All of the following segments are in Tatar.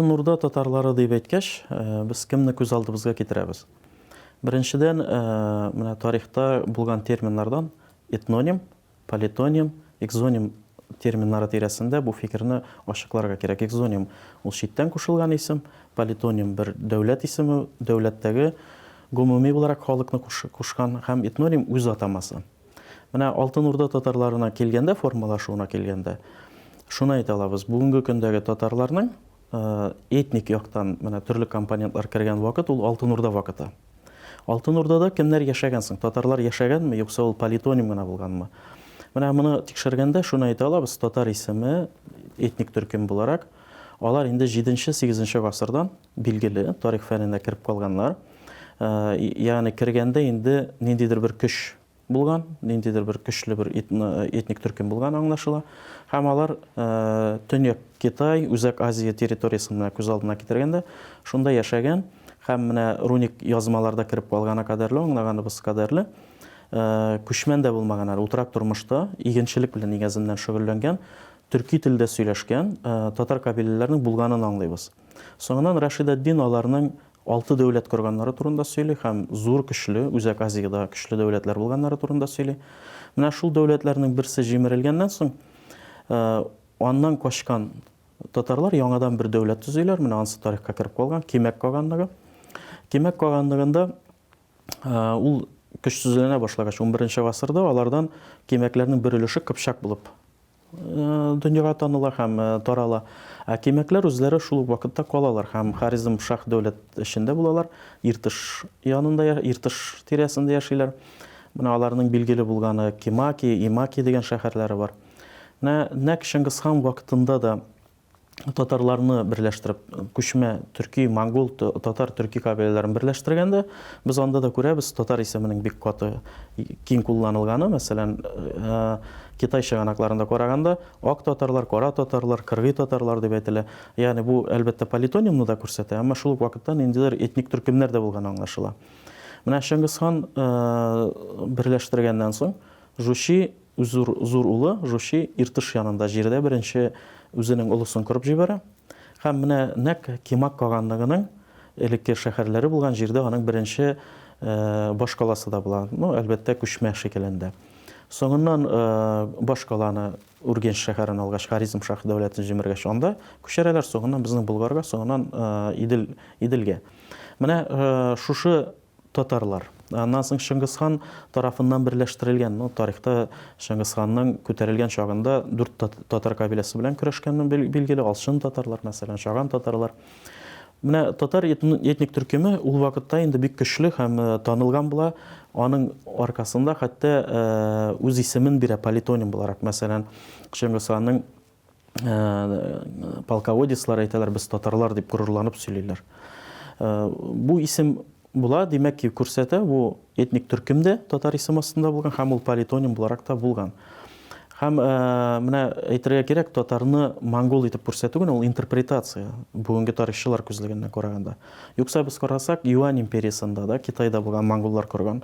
Нурда татарлары дип әйткәч, э, без кемне күз алдыбызга китерәбез? Беренчедән, э, менә тарихта булган терминнардан этноним, Политоним, экзоним терминнары тирәсендә бу фикерне ачыкларга кирәк. Экзоним, ул читтән кушылган исем, политоним, бер дәүләт исеме, дәүләттәге гомуми буларак халыкны кушкан һәм этноним, үз атамасы. Менә Алтын Урда татарларына килгәндә, формалашуына килгәндә, шуны әйтә алабыз, бүгенге көндәге татарларның этник яктан менә төрле компонентлар кергән вакыт, ул Алтын Урда вакыты. Алтын Урдада кемнәр яшәгән соң? Татарлар яшәгәнме, юкса ул политоним гына булганмы? Менә моны тикшергәндә шуны әйтә алабыз, татар исеме этник төркем буларак, алар инде 7-8 гасырдан билгеле, тарих фәненә кереп калганнар. Э, ягъни кергәндә инде ниндидер бер көч булган, ниндидер бер көчле бер этник төркем булган аңлашыла. Һәм алар Төньяк Китай, Үзәк Азия территориясен менә күз алдына китергәндә, шунда яшәгән һәм менә руник язмаларда кереп калгана кадәрле, аңлаганыбыз кадәрле, күчмән дә булмаган әле, утрак тормышта игенчелек белән нигезеннән шөгыльләнгән, төрки телдә сөйләшкән татар кабиләләренең булганын аңлыйбыз. Соңыннан Рашидәтдин аларның Алты дәүләт корганнары турында сөйли һәм зур көчле, Үзәк Азиядә көчле дәүләтләр булганнары турында сөйли. Менә шул дәүләтләрнең берсе җимерелгәннән соң, аннан качкан татарлар яңадан бер дәүләт төзиләр, менә ансы тарихка кереп калган, Кимәк каганлыгы. Кимәк каганлыгында ул көчсезләнә башлагач, унберенче гасырда алардан кимәкләрнең бер өлеше кыпчак булып дөньяга таныла һәм тарала. Ә кимәкләр үзләре шул ук вакытта калалар һәм Харизм шаһ дәүләт эчендә булалар, Иртыш янында, Иртыш тирәсендә яшиләр. Менә аларның билгеле булганы Кимаки, Имаки дигән шәһәрләре бар. Менә нәкъ Чыңгыз хан вакытында да татарларны берләштереп, күчмә төрки, монгол, татар, төрки кабиләләрен берләштергәндә, без анда да күрәбез, татар исеменең бик каты киң кулланылганы, мәсәлән, э, Китай чыганакларында караганда, ак татарлар, кара татарлар, кыргый татарлар дип әйтелә. Ягъни бу, әлбәттә, политонимны да күрсәтә, әмма шул ук вакытта ниндидер этник төркемнәр дә булганы аңлашыла. Менә Чыңгыз хан э, берләштергәннән соң, Жучи Үзур зур улы Жучи Иртыш янында җирдә беренче үзенең олысын корып җибәрә һәм менә нәкъ Кимак каганлыгының элекке шәһәрләре булган җирдә аның беренче башкаласы да була, ну, әлбәттә, күчмә шикелләндә. Соңыннан башкаланы Үргенч шәһәрен алгач, Харизм шаһ дәүләтен җимергәч, анда күчерәләр, соңыннан безнең Болгарга, соңыннан Идел, Иделгә. Менә шушы Татарлар. Аннан соң Чыңгыз хан тарафыннан берләштерелгән. Ну, тарихта Чыңгыз ханның күтәрелгән чагында дүрт татар кабиләсе белән көрәшкәне билгеле, Алчын татарлар, мәсәлән, Чаган татарлар. Менә татар этник төркеме ул вакытта инде бик көчле һәм э, танылган була. Аның аркасында хәтта э, үз исемен бирә политоним буларак. Мәсәлән, Чыңгыз ханның полководецлар әйтәләр, без татарлар дип горурланып сөйлиләр. Бу исем була, димәк ки, күрсәтә, бу этник төркем дә татар исем астында булган һәм ул политоним буларак та булган. Һәм менә әйтергә кирәк, татарны монгол итеп күрсәтү генә ул интерпретация, бүгенге тарихчылар күзлегеннән караганда. Юкса без карасак, Юань империясында да, Китайда булган монголлар корган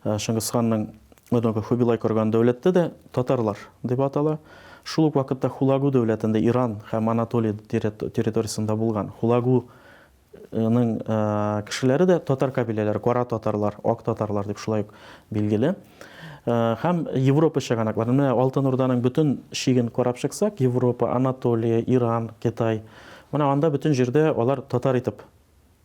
Шыңгысханның Однако Хубилай корган дәүләттә дә татарлар дип атала. Шул ук вакытта Хулагу дәүләтендә Иран һәм Анатолия территориясендә булган Хулагуның кешеләре дә татар кабиләләре, кара татарлар, ак татарлар дип шулай ук билгеле. Һәм Европа чыганаклары, менә Алтын Урданың бөтен чиген карап чыксак, Европа, Анатолия, Иран, Китай, менә анда бөтен җирдә алар татар итеп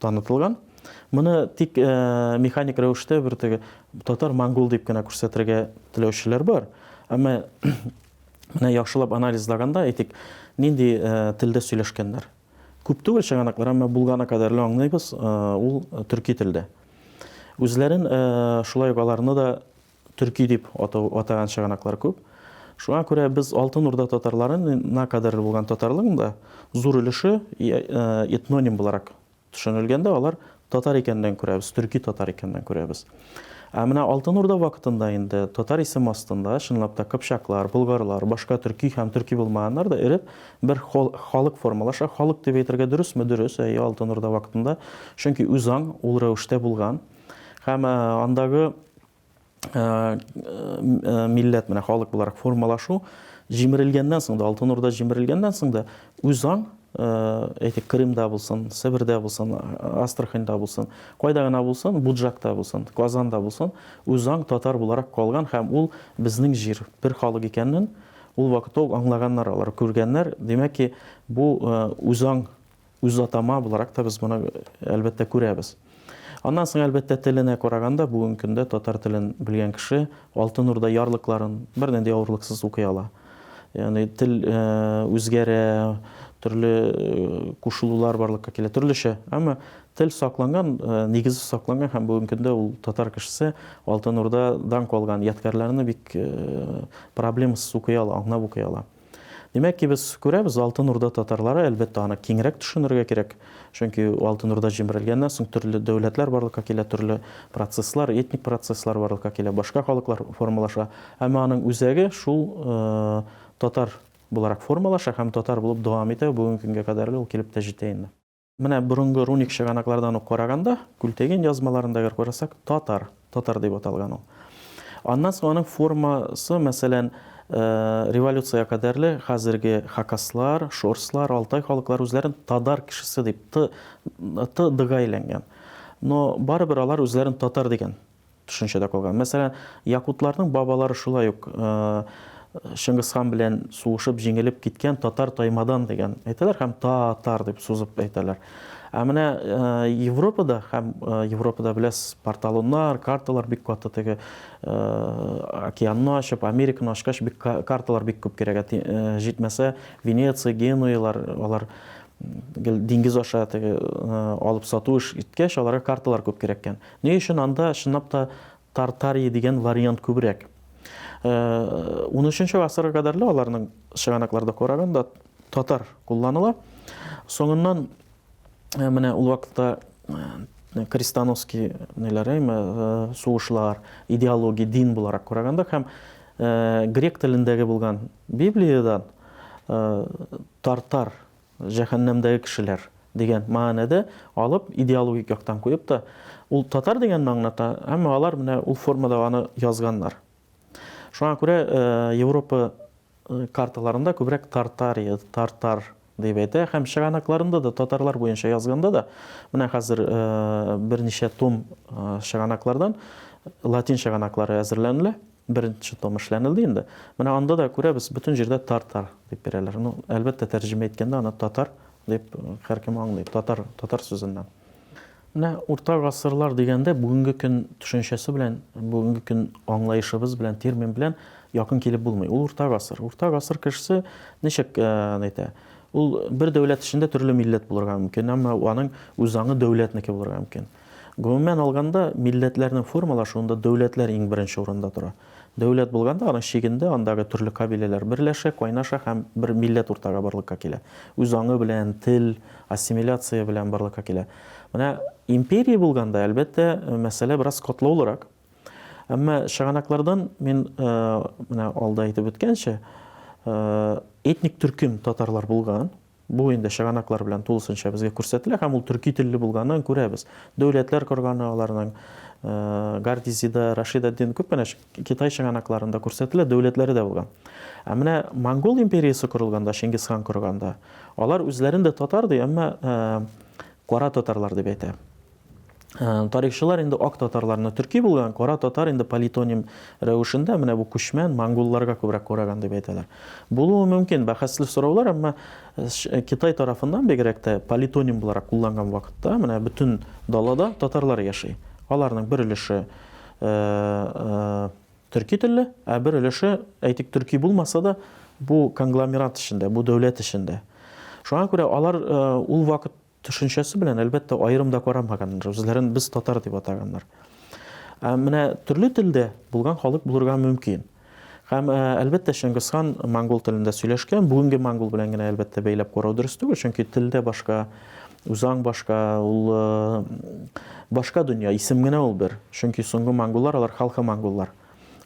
Танытылган. Моны тик механик рәвештә бер теге татар-монгол дип кенә күрсәтергә теләүчеләр бар. Әмма менә яхшылап анализлаганда, әйтик, нинди телдә сөйләшкәннәр. Күп түгел чыганаклар, әмма булганы кадәрле аңлыйбыз, ул төрки телдә. Үзләрен шулай ук аларны да Төрки дип атау, атаган чыганаклар күп. Шуңа күрә без Алтын Урда татарлары на кадәрле булган татарлыгың да зур өлеше этноним буларак төшенелгәндә алар татар икәнлеген күрәбез, төрки татар икәнлеген күрәбез. Ә менә Алтын Урда вакытында инде татар исем астында чынлап та кыпчаклар, болгарлар, башка төрки һәм төрки булмаганнар да эреп бер халык формалаша. Халык дип әйтергә дөресме? Дөрес, әйе, Алтын Урда вакытында, чөнки үзаң ул рәвештә булган. Һәм андагы милләт менә халык буларак формалашу җимерелгәннән соң да, Алтын Урда җимерелгәннән соң да үзаң әйтик Крымда булсын, Себердә булсын, Астраханьда булсын, кайда гына булсын, Буджакта булсын, Казанда булсын, үзаң татар буларак калган һәм ул безнең җир, бер халык икәнен ул вакытта ук аңлаганнар алар, күргәннәр. Димәк ки, бу үзаң үз атама буларак та без моны әлбәттә күрәбез. Аннан соң, әлбәттә, теленә караганда, бүгенге көндә татар телен белгән кеше Алтын Урда ярлыкларын бернинди авырлыксыз укый ала. Ягъни тел үзгәрә, төрле кушылулар барлыкка килә, төрлечә. Әмма тел сакланган, нигезе сакланган һәм бүгенге көндә ул татар кешесе Алтын Урдадан калган ядкәрләрне бик проблемасыз укый ала, аңлап укый ала. Димәк ки, без күрәбез, Алтын Урда татарлары, әлбәттә, аны киңрәк төшенергә кирәк, чөнки Алтын Урда җимерелгәннән соң төрле дәүләтләр барлыкка килә, төрле процесслар, этник процесслар барлыкка килә, башка халыклар формалаша. Әмма аның үзәге шул татар буларак формалаша һәм татар булып дәвам итә, бүгенге көнгә кадәрле ул килеп тә җитә инде. Менә борынгы руник чыганаклардан ук караганда, Күлтеген язмаларында гәр карасак, татар, татар дип аталган ул. Аннан соң аның формасы, мәсәлән, э, революция кадәрле хәзерге хакаслар, шорслар, алтай халыклар үзләрен тадар кешесе дип т т дыга әйләнгән. Но барыбер алар үзләрен татар дигән төшенчәдә калган. Мәсәлән, якутларның бабалары шулай ук Чыңгыз хан белән сугышып җиңелеп киткән татар таймадан дигән әйтәләр һәм татар дип сузып әйтәләр. Ә менә Европада һәм Европада беләсез, порталоннар, карталар бик каты теге океанны ачып, Американы ачкач бик карталар бик күп кирәк. Җитмәсә, Венеция, Генуялар, алар диңгез аша теге алып сату эш иткәч, аларга карталар күп кирәккән. Ни өчен анда чынлап та Тартарии дигән вариант күбрәк? Унөченче гасырга кадәр лә аларның чыганакларда караганда татар кулланыла. Соңыннан менә ул вакытта крестоносский ниләре, сугышлар, идеология, дин буларак караганда һәм грек телендәге булган Библиядән тартар җәһәннәмдәге кешеләр дигән мәгънәдә алып, идеологик яктан куеп та, ул татар дигәнне аңлата, әмма алар менә ул формада аны язганнар. Шуңа күрә Европа карталарында күбрәк Тартария, Тартар дип әйтә һәм чыганакларында да татарлар буенча язганда да менә хәзер берничә том чыганаклардан латин чыганаклары әзерләнелә. Беренче том эшләнелде инде. Менә анда да күрәбез, бөтен җирдә тар-тар дип бирәләр. Ну, әлбәттә, тәрҗемә иткәндә аны татар дип һәркем аңлый, татар, татар сүзеннән. Менә урта гасырлар дигәндә бүгенге көн төшенчәсе белән, бүгенге көн аңлаешыбыз белән, термин белән якын килеп булмый. Ул урта гасыр. Урта гасыр кешесе ничек әйтә? Ул бер дәүләт эчендә төрле милләт булырга мөмкин, әмма аның үз аңы дәүләтнеке булырга мөмкин. Гомумән алганда, милләтләрнең формалашуында дәүләтләр иң беренче урында тора. Дәүләт булганда, аның чигендә андагы төрле кабиләләр берләшә, кайнаша һәм бер милләт уртага барлыкка килә. Үз аңы белән, тел, ассимиляция белән барлыкка килә. Менә империя булганда, әлбәттә, мәсьәлә бераз катлаулырак. Әмма чыганаклардан мин менә алда әйтеп үткәнчә, этник төркем татарлар булган, Бу инде чыганаклар белән тулысынча безгә күрсәтелә һәм ул төрки телле булганын күрәбез. Дәүләтләр корганы аларның Гардизида, Рашид ад-Дин күп кенә китай чыганакларында күрсәтелә, дәүләтләре дә булган. Ә менә монгол империясе корылганда, Чингиз хан корганда, алар үзләрен дә татар ди, әмма кара татарлар дип әйтә. Тарихчылар инде ак татарларны төрки булган, кара татар инде политоним рәвешендә менә бу күчмән монголларга күбрәк караган дип әйтәләр. Булуы мөмкин, бәхәсле сораулар, әмма Китай тарафыннан бигрәк тә политоним буларак кулланган вакытта менә бөтен далада татарлар яши. Аларның бер өлеше төрки телле, ә бер өлеше, әйтик, төрки булмаса да, бу конгломерат эчендә, бу дәүләт эчендә. Шуңа күрә алар ул вакыт Төшенчәсе белән, әлбәттә, аерым да карамаганнар, үзләрен без татар дип атаганнар. Ә менә төрле телдә булган халык булырга мөмкин. Һәм, ә, әлбәттә, Чыңгызхан монгол телендә сөйләшкән, бүгенге монгол белән генә, әлбәттә, бәйләп карау дөрес түгел, чөнки телдә башка, үзаң башка, ул башка дөнья, исем генә ул бер. Чөнки соңгы монголлар, алар халкы монголлар.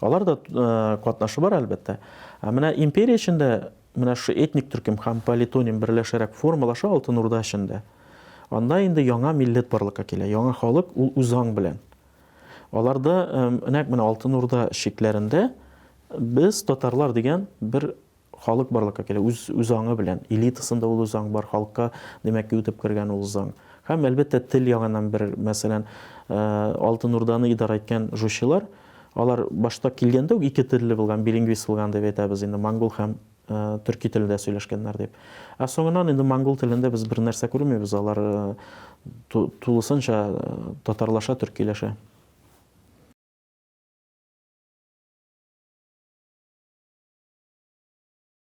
Алар да катнашы бар, әлбәттә. Ә менә империя эчендә Менә шушы этник төркем һәм политоним берләшәрәк формалаша Алтын Урда эчендә. Анда инде яңа милләт барлыкка килә, яңа халык, ул үзаң белән. Аларда, нәкъ менә Алтын Урда чикләрендә без, татарлар дигән бер халык барлыкка килә, үз үзаңы белән. Элитасында ул үзаң бар, халыкка, димәк ки, үтеп кергән ул заң. Һәм, әлбәттә, тел ягыннан бер, мәсәлән, Алтын Урданы идарә иткән жучылар, Алар башта килгәндә үк ике телле булган, билингвист булган дип әйтәбез инде, монгол һәм төрки телдә сөйләшкәннәр дип. Ә соңыннан инде монгол телендә без бер нәрсә күрмибез, алар тулысынча татарлаша, төркиләшә.